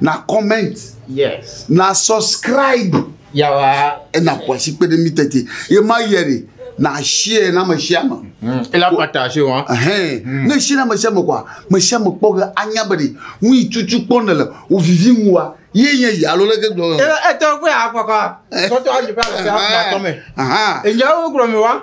na comment yes na subscribe yawa ena kwasi kpe ɖe mi tete ye ma yɛ de na share na me share me hmm. ela pata se wa hɛn hmm. ne share na me share me kwa me share me kpɔ ge anya be de nu yi tutu kpɔ ne le o vivi ŋu wa ye nye yi alo leke gblɔ. etɔ kpe akɔkɔ sɔtɔ ayi fɛ afɔ atɔ mɛ. enyɛ wo gblɔ mi wa.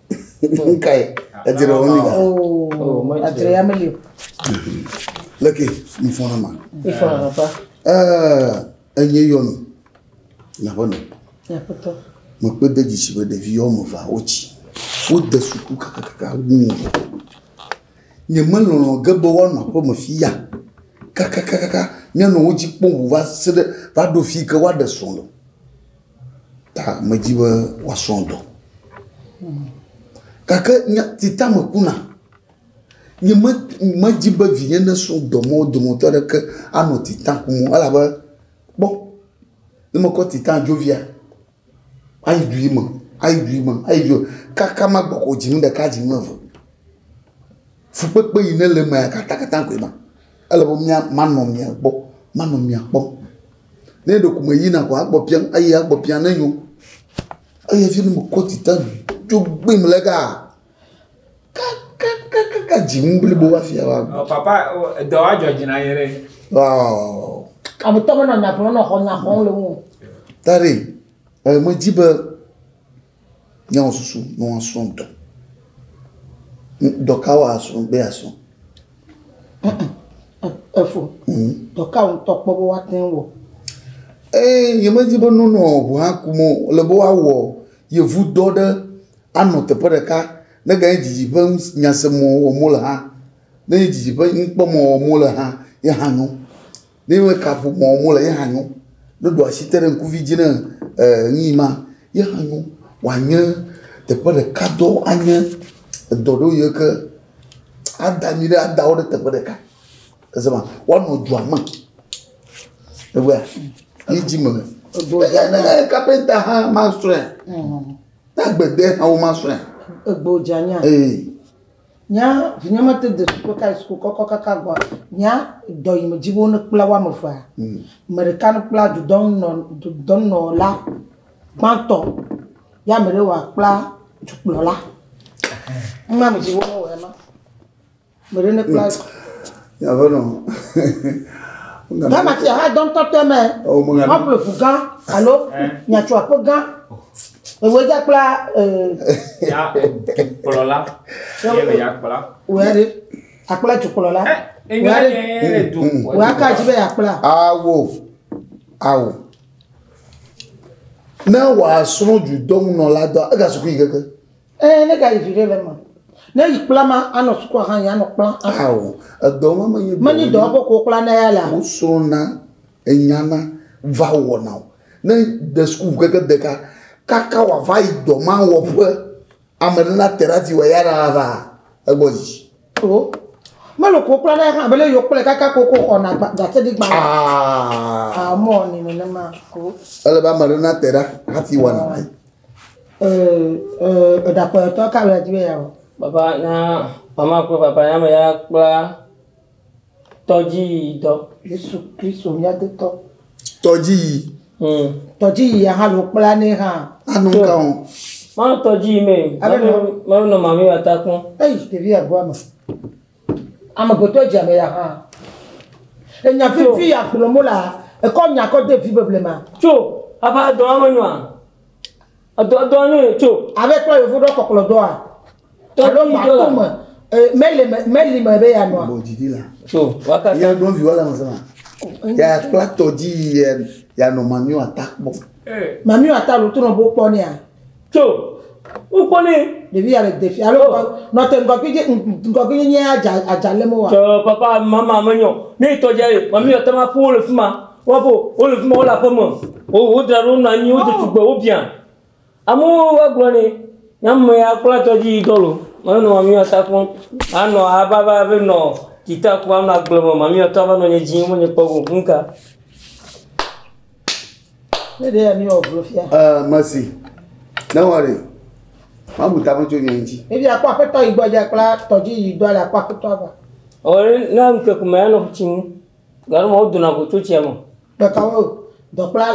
Nkae edzre wo nida. Oh, adzre ya meli o. Leke mi fɔ na ma. Ifɔ na papa. Eh, enye yɔnu. Na bɔnɔ. Ya papa. Mo pe de disi be ɖevi yɔ mo va ochi. Wo de suku kaka kaka wu. Nye me lɔlɔ ge be wa no aƒe me fi ya. Kaka kaka kaka. Nye no wo ji kpɔ wu va se de va do fi ke wa de solo. Ta medi be woasrɔ dɔ. Gake nya si ta mekuna, nye me medi be vinye nasrɔ dɔ me wo dometɔ aɖeke anɔ tita kum o elabe kpɔ ne mekɔ tita dzovia ayi du yi me ayi du yi me ayi du yi me kaka magbe ko dzi nu ɖeka dzi nu eve. Fukpekpe yi ne le emea katakata koe ma. Ele be mía manɔ mia gbɔ manɔ mia kpɔm. Ne ɖeko meyina koa, egbɔ biam eyi egbɔ biam ne nyo. Eyi hafi ne mekɔ dzitaa dzo gbim le egaa, kakakakaka dziŋ blibo hafi ava gbɔ. Ɔ papa ɔ edɔ wa dzɔ dzi na ye ɖe. Ɔɔ. Ametɔ menɔ nya ƒlem nɔ xɔ nya xɔm le ŋu o. Dadi, e medzi be Nye wɔ susu ne woasrɔ̃ ŋutɔ. Dɔ ka woasrɔ̃ be yeasrɔ̃? Efo, dɔ ka wòtɔ kpɔ be woate ŋu wɔ? Ee, nyemedi be nonɔ ŋu akum o. Ele be woawɔ yevudɔ ɖe anɔ teƒe ɖeka neganye didi ƒe ŋus nyaseme wɔm wole hã. Ne nye didi ƒe nukpɔmɔ wɔm wole hã ye hã nyo. Ne me ka ƒo mɔ mo le ye hã nyo. Ne ɖo asi te ɖe ŋkuvi dzi ne eh nuyi ma ye hã nyo. Wa nye teƒe ɖeka dɔ anye edɔ ɖo ye ke ada mi ɖe ada wo ɖe teƒe ɖeka. Ese ma wa nɔ dua me. Egbea yi dzi me. Ebo dza ne le kapenta hã ma sɔe. Na gbede hã wo ma sɔe. Ebo dza nya. Ee. Nya vinye mete de suku ka yi suku kɔkɔ kaka gbɔ. Nya dɔ yi me dzi be wone kpla woame vea. Mm. Me ɖeka ne kpla dudɔnunɔ dudɔnunɔla gbãtɔ ye ame ɖe wa kpla dukplɔla. Numa me dzi be wone wɔ ema. Me ɖe ne kpla. Aƒenɔ. Ghana fia hã dɔ ŋutɔ tɔe me. Ewɔ me ŋa. Woaƒle ʋu gã alo nyatso aƒe gã. Ewɔe dza kpla. Ya dukplɔla. Ye le ya kpla. Wòya ɖe. Akpla dukplɔla. Wòya ɖe. Wòya ka dzi be ya kpla. Awo. Awo. Ne wòasrɔ̃ dudɔnunɔla dɔ ega sukui keke. Eee, ne gayi viɖe le eme. Ne yi kpla ma anɔ sukua hã yi anɔ kpla. Ao, edɔ ma menye dɔ. Menye dɔ ko ko kpla ne ya la. Wo srɔna enyana va wɔna o. Ne de sukulu keke deka kaka wa va yi dɔ ma wɔ ƒe ame ɖe na te ɖa ti wa ya ɖa la va egbɔ dzi. O, melo ko kpla ne hã be le yo kple kaka ko ko xɔ na gba gase di gba. Aa. Aa, mɔ ni ne ne ma. O. Ele ba me ɖe na te ɖa hati wɔna. Papa na mama kple papa na ame ya kpla tɔdziyi dɔ. Yesu Kristo mía Dotɔ. Tɔdziyi. Hmm. Tɔdziyi ya hã lo kpla ne hã. Anu ka o. Ma tɔdziyi me. Ale nɔ. Ma nɔ mami wa ta kpɔn. Eyi ɖevi ya gbɔ ame. Amegbetɔ dze ame ya hã. Enya vivi ya gblɔm wolea, ekɔ nya kɔ de vi beblema. Tso, ava edɔa me nyoa? Edɔ edɔa nyo ye tso. Ave kpɔ yevu ɖɔ kɔklɔ dɔa. Alo mato me, meli me, meli me be ya nɔa. Tso, wakata. Ye ɖo viwa la me sema. Ya kpla tɔdzi ya ya nɔ mamiwa ta kpɔ. Mamiwa ta lo to nɔ bo kpɔ nea. Tso, wokpɔ nɛ. Ɖevi ya le defi alo oh. nɔ te ŋgɔgbi je ŋgɔgbi nye nye adza adza le mo wa. Tso papa mama me nyɔ. Ne tɔ dja ye, mami yɔ tama fo le fima. Wa fo, o le fima o la fama. O o dra ro na nyi o de tugbe o bian. Amu wa gblɔ ne. Nyam me ya kpla tɔ dji dɔlo. Mami no mami yɔ ta fon. Ano a ba ba be no kita ku ano agble mo mami yɔ ta ba no nye dji mo nye kpɔ go nka. Ne ɖe mi wɔ vlo fia. Ɛɛ, mesi. Ne wɔri. Mabu ta me tso nye ŋuti. Ebi akpɔ aƒetɔ yi gbɔ dze kpla tɔdzi yi dɔ le akpɔ aƒetɔ agba. Ɔri ne ŋkeke me anɔ tsi ŋu. Garo ma wodona go tso tsia me. Ɖeka wo dɔkpla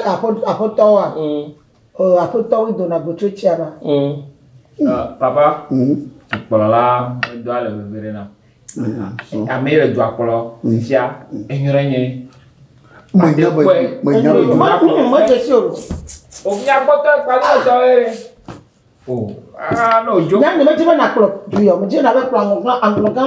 aƒetɔ wa. Mm. Oh Aƒetɔ we dona go tso tsia ba. Oh Papa, dukplɔla la medoa le veve ɖe nam. Ame yi le dua kplɔ fifia enyo ɖe nye. Menya be menya be dua kplɔ. Medzesi si o. O nya kpɔtɔ ekpali o tɔ ye. O ah no jo. Nya ne medzi be na kplɔ duyɔ, medzi na be kplɔ aŋɔgã aŋɔgã.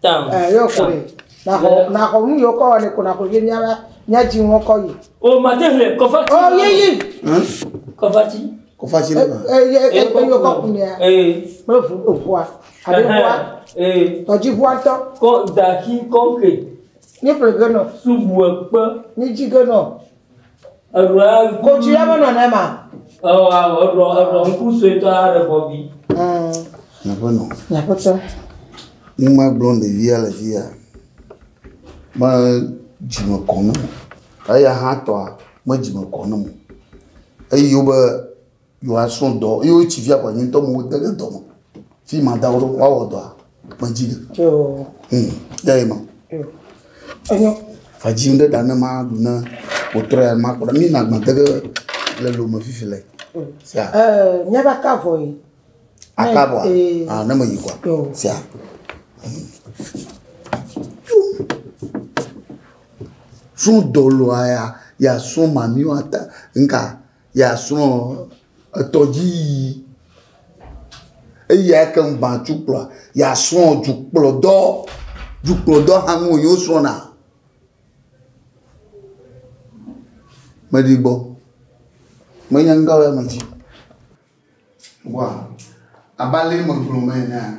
Tam. Ɛ yɔ ko ye. Na xɔ na xɔ nu yɔ kɔ wa ne ko na xɔ ye nya la nya dzi ŋɔ kɔ ye. O ma te le kɔfa. O ye ye. Kɔfa ti. Kɔfa ti le ma. Ɛ ɛ ɛ ko yɔ kɔ kun ya. Ɛ. Me vu o vua. A de vua. Ɛ. Tɔ dzi vua tɔ. Kɔ da ki kɔ ke. Ni ple ge nɔ. Su vua kpe. Ni dzi ge nɔ. Eɖua ŋku. Ko tsi ya me nɔ ne ma. Ewɔ awɔ eɖua eɖua ŋku suetɔ aɖe bɔbi. Nyaƒe nɔ. Nyaƒe tɔ. Numa gblɔm ɖevia le fi ya. Me dzime kɔ ne mo. Eya hã tɔa me dzime kɔ ne mo. Eyi wobe. Yo a srɔ dɔ yo ci via kwa nyuntɔ mo de le dɔ mo. Fi ma da wo wa wo dɔ. Ma ji le. Yo. Hmm. Ya e ma. Yo. Enyo. Fa ji nde da ne ma du ne o trɔ ya ma kora mi na gba de le lo me fifi le. Sia. Eh, nya ba ka vo yi. Aka bo. Ah, ne me yi kwa. Yo. Sia. Sun dolo aya ya sun mamiwa ta nka. Ye asrɔ̃ etɔdziyiyi, eyi ake ŋu gbã tsu kplɔa. Ye asrɔ̃ dzukplɔdɔ, dzukplɔdɔ hã ŋu wònyi wosrɔ̃na. Meɖi gbɔ, menye ŋdɔ ɖe eme dzi. Wa, abe ale megblɔ me enea?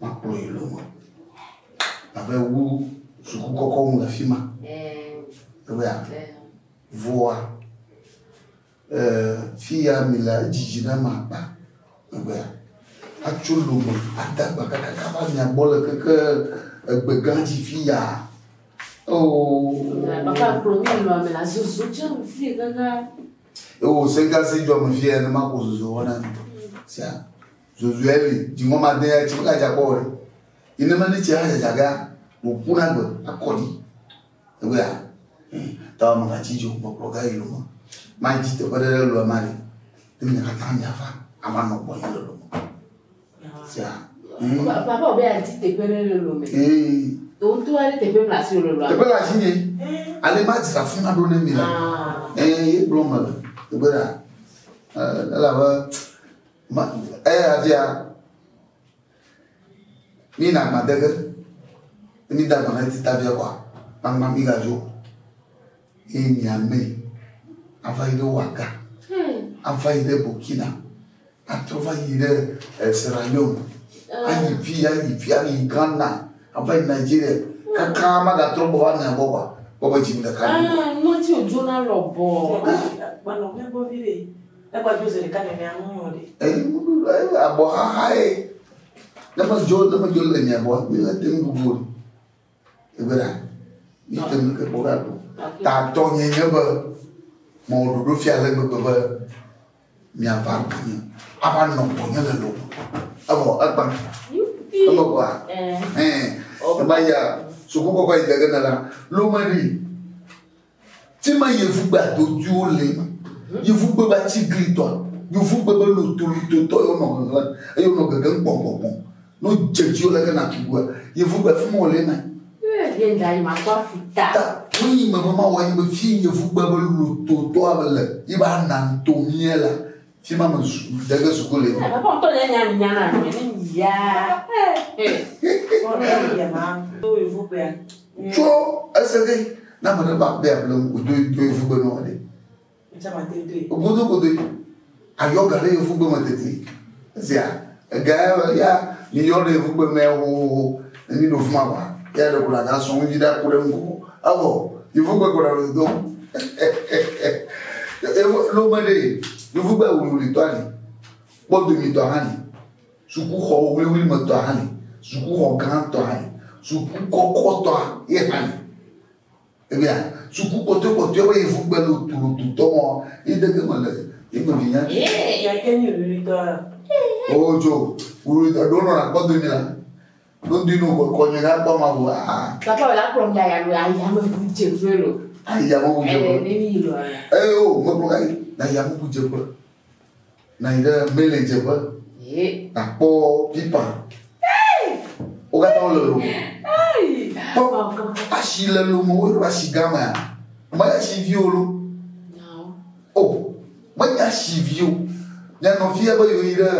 Woakplɔ yi lome. Abe wu suku kɔkɔ ŋu le afi ma. Ewɔa. Vɔa. Fi ya mi le edzidzi na ma akpa. Ewɔa. Atso lome ada gba kakaka va mia gbɔ le keke egbe gã dzi fi ya. Oo. Baba kplɔ mi nɔ ame la zozo tse fi gã gã. Ewo sɛgasi jɔ me fi ya ne ma ko zozo wɔna. Sia. Zozue li, dziŋɔ made ya tsi mega dza kpɔ wɛ. Yi ne meli tsi ha dzadza gea, wò ku na gbe akɔ dzi. Egbe ya. Ta wɔ mega tsi dzo kpɔkplɔ ga yi lome. Ma dzi teƒe ɖe ɖe lɔe ma li. Ne mi katã mi ava, ava nɔ gbɔ yi lɔlɔ me. Sia. Papa wɔ be ya dzi teƒe ɖe ɖe lɔme. Ee. To ŋutɔ wa ɖe teƒe mla si wò lɔlɔ. Teƒe la zi nye. Ale ma dzi afi ma ɖo ne mi la. Ee, ye gblɔ me le. Egbe ya. Ela be. Ma, eya fia mi na ma dege mi da ma na ti ta fia kwa ma ma mi ga jo e mi ame ava yi ɖe waga hmm. ava yi ɖe burkina atrɔ va yi ɖe eh, sierra leone ah. ayi fi ayi fi ayi ghana ava yi nigeria hmm. kaka ma ga trɔ gbɔ va mi abɔ kwa gbɔ be dzi mi ɖeka. Ah, ŋɔti o jona lɔ bɔ. Negbe dzoze ɖeka nenea ŋu nyo ɖe. Eyi ŋu ɖu ɖe eyi abɔ xaxa ye. Ne me dzo ne me dzo le nye abɔ mi le te ŋu bubu o. Egbe ɖa. Mi te ŋu ke kpɔ ɖa ɖo. Ta tɔ nye nye be mɔ ɖoɖo fia le gbegbe be mia va gbɔ nye. Ava nɔ gbɔ nye le lo. Evɔ ekpa. Eme gba. Ɛɛ. Ema ya suku kɔkɔ yi dege ne la. Lo me ɖi. Fi ma yevugbe adodwiwo le, yevugbe be atsiglitɔ, yevugbe be lotolototɔ ye wonɔ ŋeŋlem eye wonɔ gegem kpɔnkpɔnkpɔ. Ne wodze edzi wo leke nàtu ŋua, yevugbe afi ma wòle ema. Ta wonyi me be mawɔ ye be fi yevugbe be lototɔa le ye be ananto mía la, Fi ma me dege suku le. Papa ŋutɔ nye nya nya na nye ne ya. Tso ese de na me ɖe ba be able o do do evu be nɔ de. Godo godo ayɔ ga ɖe evu be me tete. Zia. Egae be ya mi yɔ ɖe yevu kpe mɛ hohoho ne mi ɖo fuma ba ya ɖe kuna ga sɔn ŋuti ɖa ku ɖe ŋgo evɔ yevu kpe kɔna ɖo do evo lo me ɖe yevu kpe wulu li tɔ ali kpɔ domi tɔ hã li suku xɔ wuli wuli me tɔ hã li suku xɔ gã tɔ hã li suku kɔkɔ tɔ ye hã li. Ebia suku kpɔtɔe kpɔtɔe be yevu gbe lo tulu tu tɔ mɔ yi dege me le yi me vinya. Ee ya ke ni ruri tɔ ya. O jo ruri tɔ do no na kpɔ do ni la. Do di no ko ko ni na kpɔ ma bo a. Ta kpɔ la kpɔ ya ya lo ya ya me bu je fe lo. Ai ya me bu je fe. Ee ni ni lo ya. Ee o me kpɔ ai na ya me bu je fe. Nɔ anyi ɖe mele dzeƒe. Ye. Nakpɔ pipa. Wo katã wole lomo. Kpɔ asi le lomo wo ɖo asi gã mea. Mele asi vi o lo. O menye asi vi o. Nye nɔvia be yewo yi ɖe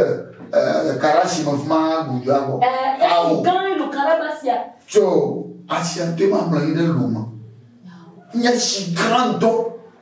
eh, kara si me fuma gudu abɔ. Eh, awo. Eh, gã lo kara ba sia. Tsɔ asia te ma mle yi ɖe lome. Nye si gã dɔ.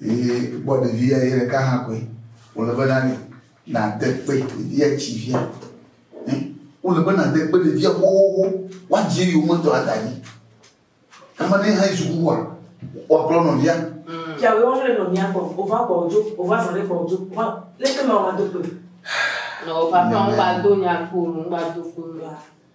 Eye kpɔ ɖevia ye ɖeka hã koe wòle be nani nàde kpe ɖevia tsi via. Wòle be nàde kpe ɖevia xoxoxo woadzi eyi wometɔ ada dzi. Kama ne hã yi sukuxua woakplɔ nɔvia. Fia wɔ wole nɔvia kpɔ wova kpɔ wodzo wova zɔ ɖe kpɔ wodzo wa leke ma wova do kpe. Nɔ papa ŋgba do nya kpo ŋgba do kpe.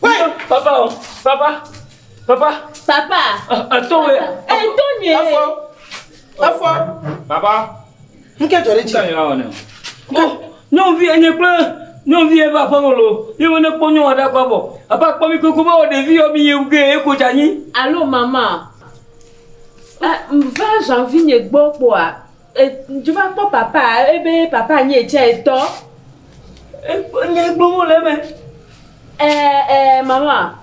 Papa o, papa, papa. Papa. Eto wɛ. Eto nye. Efɔ. Efɔ. Papa. Nu ke dzɔ ɖe dzi. Kanyɔ awɔ ne. Ko nyɔnuvi enye kple nyɔnuvi ebe aƒeme lo. Ye wo ne kpɔ nyɔnu aɖe akɔ abɔ. Apa kpɔ mi koko ba wɔ ɖevi yɔ mi ye ge ye ko dza nyi. Alo mama. Eh, va janvi nye gbɔ kpɔa. Ŋtsu va kpɔ papa ebe papa nyi etsɛ tɔ. Ekpɔ nya yi gblɔm wole eme. Ɛɛ ɛɛ mama.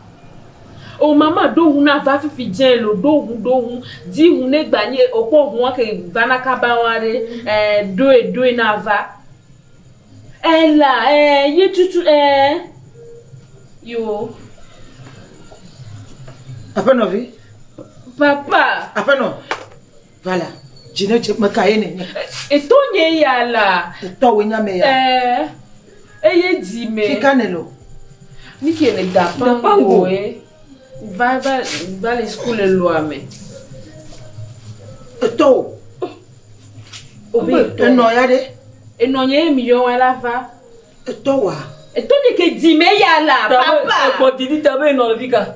O mama ɖo ŋu na va fifi dze lo ɖo ŋu ɖo ŋu. Di ŋu ne gba nyi okpɔ ŋua ke va na kaba wa ɖe. Ɛɛ ɖoe ɖoe na va. Ɛɛ la ɛɛ yi tutu ɛɛ yoo. Aƒenɔvi. Papa. Aƒenɔ. Vala, dzi ne dze, meka ye nènye? Etɔ nye ya la. Etɔ wòe nye ame ya. Ɛɛ, eye dzi me. Fi ka nèle o? Nu ke le Dapangoe. Va, va, va le suku le lɔa me. Etɔ wò. Wobe etɔ. Enɔ ya ɖe? Enɔ nye ye mi yɔ wa la va. Etɔ wòa? Etɔ nye ke dzi me ya la. Papa! Egbɔ didi ta be enɔ le fi ka?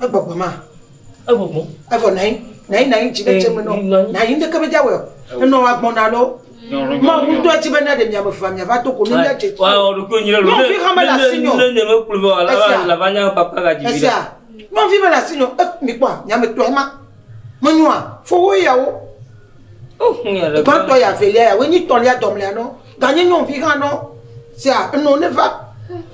Egbɔgbɔ ma. Egbɔgbɔ. Evɔ nayi nayi nayi dzi ɖe tse me nɔ nayi ŋdeke me dza wɔ enɔ wa gbɔn na lɔ. Ma wu ŋdɔ dzi be na ɖe mia me va mia va to ko ne mia dze tsi. Wa wɔ ɖo ko nyi ɖe lo. Nɔvi ha me la si nyɔ. Ne ne me kplu vɔ la va la va nya papa ga dzi. Esia nɔvi me la si nyɔ e mi kpɔ mia me tɔ ema. Me nyɔa fo wo ya wo. Oh nya ɖe. Gba tɔ ya velia ya wo nyi tɔ lia dɔ mlia nɔ. Ga nyi nyɔ vi ha nɔ. Sia enɔ ne va.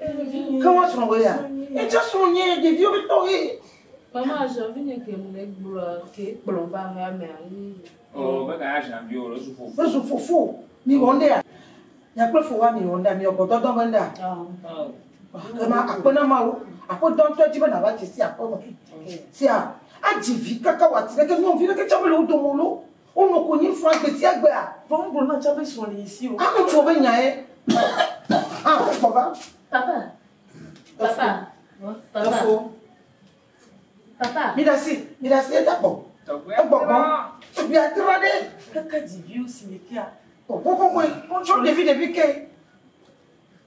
Ke woa srɔ̃ wò ya? Ye tsã srɔ̃ nye ɖeviwo be tɔ ye. Mama ajan vi nye ke le gblɔ ke kplɔ va ha me ayi. Oh, be ka ajan vi o le su fofo. Su fofo. Mi wɔ nda. Nya kple fo wa mi wɔ nda, mi wɔ gbɔdɔ dɔ be nda. Ke ma akpe na ma wo. Akpe dɔ ntɔ ji be na va je si akpe me. Sia. Aji vi kaka wa ti ɖe ke nyɔ vi ɖe ke tsɔ be le wo domo lo. Wo nɔ konyi fɔa gbetiagbea. Vɔ ŋglo na tsã be srɔ̃ li yi si o. Ame ŋutsuwo be nyae hã ƒe kɔ va. Papa, papa, papa. Efo. Papa. Mi ɖasi, mi ɖasi eda kpɔ. Egbɔgbɔ. Tɔgbia tra ɖe. Kaka dziviwo si me kea. Kɔkɔkɔkɔe. Tsɔ ɖevi ɖevi ke.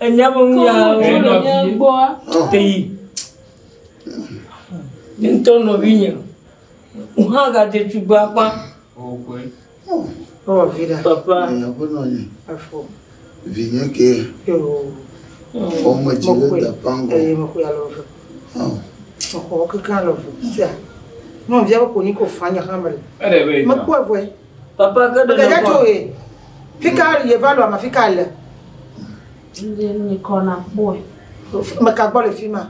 Enya be nu ya teyi. Ne ŋutɔ nɔvi nye. Wo hã gadze tugbe akpa. Ewɔ vi ɖa. Papa. Aƒenɔ nye. Afɔ. Vinye ke. Ɔme dzi ɖe da pango. Eye me kuya lɔ ve. Mexɔ keke lɔ ve. Sia. Nɔvia be konyi ko fanya hamre. Mekpɔ evɔe. Papa ke ɖe Kɛdɛ tso he. Fika yeva lɔ ma fika le. Ndi ni kɔ na kpɔe. Meka gbɔ le fima.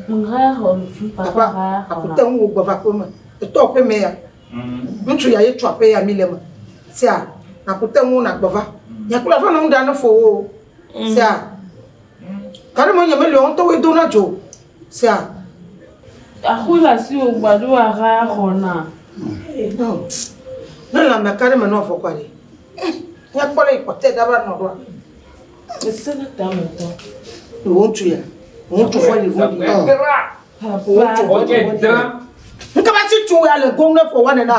Nga hɔ le fi papa ba ya. Papa akute ŋu gbɔ va kpɔ me. Etɔ pe me ya. Ŋutsu ya ye tsɔ pe ya mi le me. Sia akute ŋu na gbɔ va. Ya kula fa na ŋu da ne fo wo. Sia. Kare mo nye me le on to we do na jo. Sia. Axu le asiwò gbado axa xɔ na. Ne lã meka ɖe me nɔ afɔ kɔ ɖe. Ne kpɔ ɖe kpɔtɛ da va nɔ ɖoa. Ese ne ta me tɔ. Wo ŋutsu ya. Wo ŋutsu fɔ yi vɔ di. Wo ŋutsu fɔ di. Nkaba si tu ya le gom ne fɔ wa ne na.